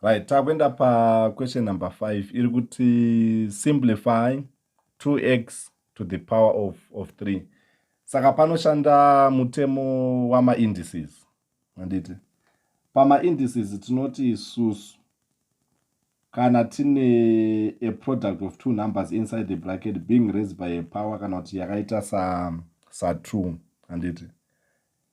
right takuenda paquestion number 5 iri kuti simplify 2x to the power of, of 3 saka panoshanda mutemo wamaindices anditi pamaindices tinoti susu kana tine a product of two numbers inside the bracket being raised by a power kana kuti yakaita sa sa2 anditi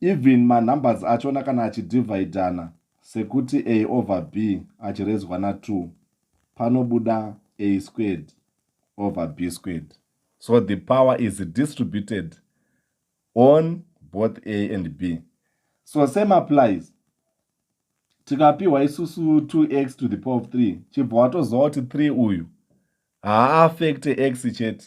even manumbers achona kana achidivhaidhana sekuti a over b achirezwa na2 panobuda a squared over b squared so the power is distributed on both a and b so same applies tikapiwa isusu 2x to the power of 3 chibva watoziva kuti 3 uyu haaffecte x chete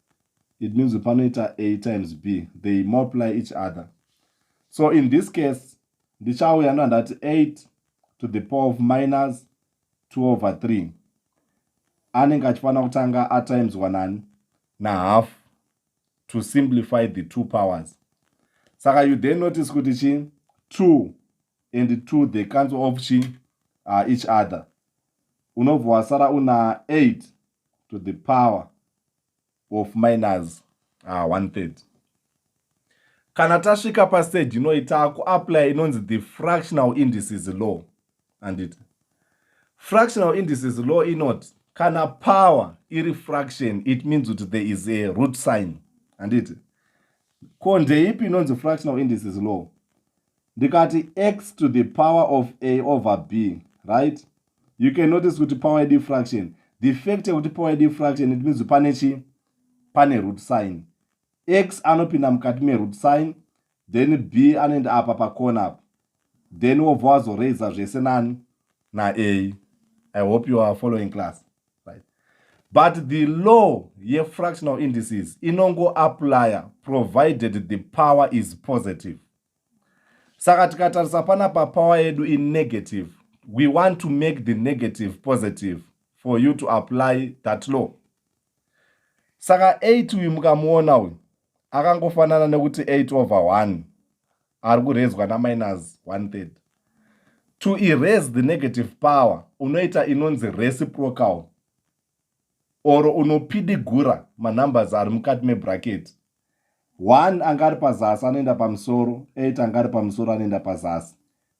it means panoita a times b they multiply each other so in this case ndichauya ndo handati 8 to the power of minus 2 over 3 anenge achifanira kutanga atimes wanani nahalf to simplify the two powers saka you then notice kuti chi 2 and 2 they cancel off chi uh, each other unobva wasara una 8 to the power of minors ah, one third kana tasvika pastage inoi taakuaplya inonzi the fractional indices law anditi fractional indices law inoti kana power iri fraction it means kuti there is a root sign anditi ko ndeipi inonzi fractional indices law ndikati x to the power of a over b right you can notice kuti power yedu fraction the fact yekuti power yedu fraction it means pane chi pane root sign x anopinda mukati meroot sign then b anoenda apa pakona apa then wobva wazoraisa zvese nani na a i hope you are following class right but the law yefractional indices inongoaplya provided the power is positive saka tikatarisa panapa power yedu inegative we want to make the negative positive for you to apply that law saka 8 uyu mukamuona uyu akangofanana nekuti 8 over 1 ari kurezwa naminus one third to erase the negative power unoita inonzi reciprocal or unopidigura manumbers ari mukati mebracket one anga ari pazasi anoenda pamusoro eight anga ari pamusoro anoenda pazasi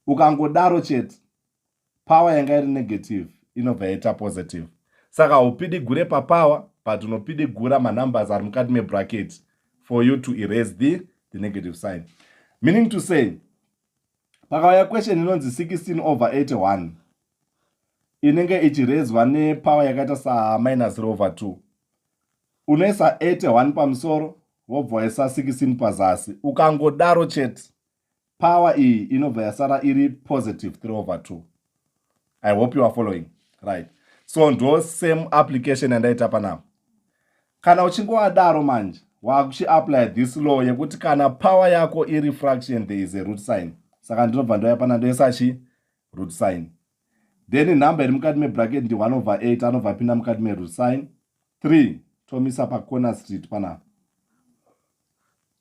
ukangodaro chete power yanga iri negative inobva yaita positive saka haupidigure papower but unopidigura manumbers ari mukati mebracket for you to erase the, the negative sign meaning to say pakauya question inonzi 16 over 81 inenge ichirezwa nepower yakaita sa minus rover 2 unoisa 81 pamusoro wobva waisa 16 pazasi ukangodaro chete power iyi inobva yasara iri positive 3 over 2 i hope you are following right so ndo same application yandaita panapa kana uchinge wadaro manje waakuchiapply this law yekuti kana power yako iri fraction there is a root sign saka ndinobva ndoya pana ndoisa chi root sign then number iri mukati mebracket ndi 1 over 8 anobva apinda mukati meroot sign 3 tomisa pacorner street panapa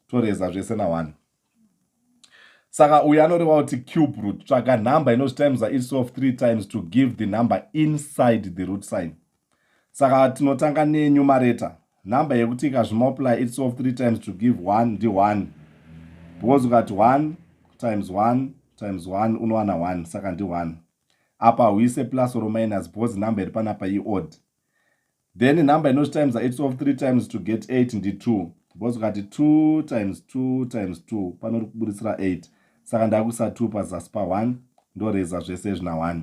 toreza zvese na 1 saka uyu anoreva kuti cube root tsvaga number inozvitimes iri sof 3 times to give the number inside the root sign Saka tinotanga ne numerator number yekuti ikazvimultiply its of three times to give one ndi one because ukati one times one times one unowana one saka ndi one apa huise plus or minus because number iri panapa iodd then number inozvitimesa its of three times to get eight ndi two because ukati two times two times two panori kuburitsira eight saka ndakuisa two pazasi pa one ndoreza zvese zvina one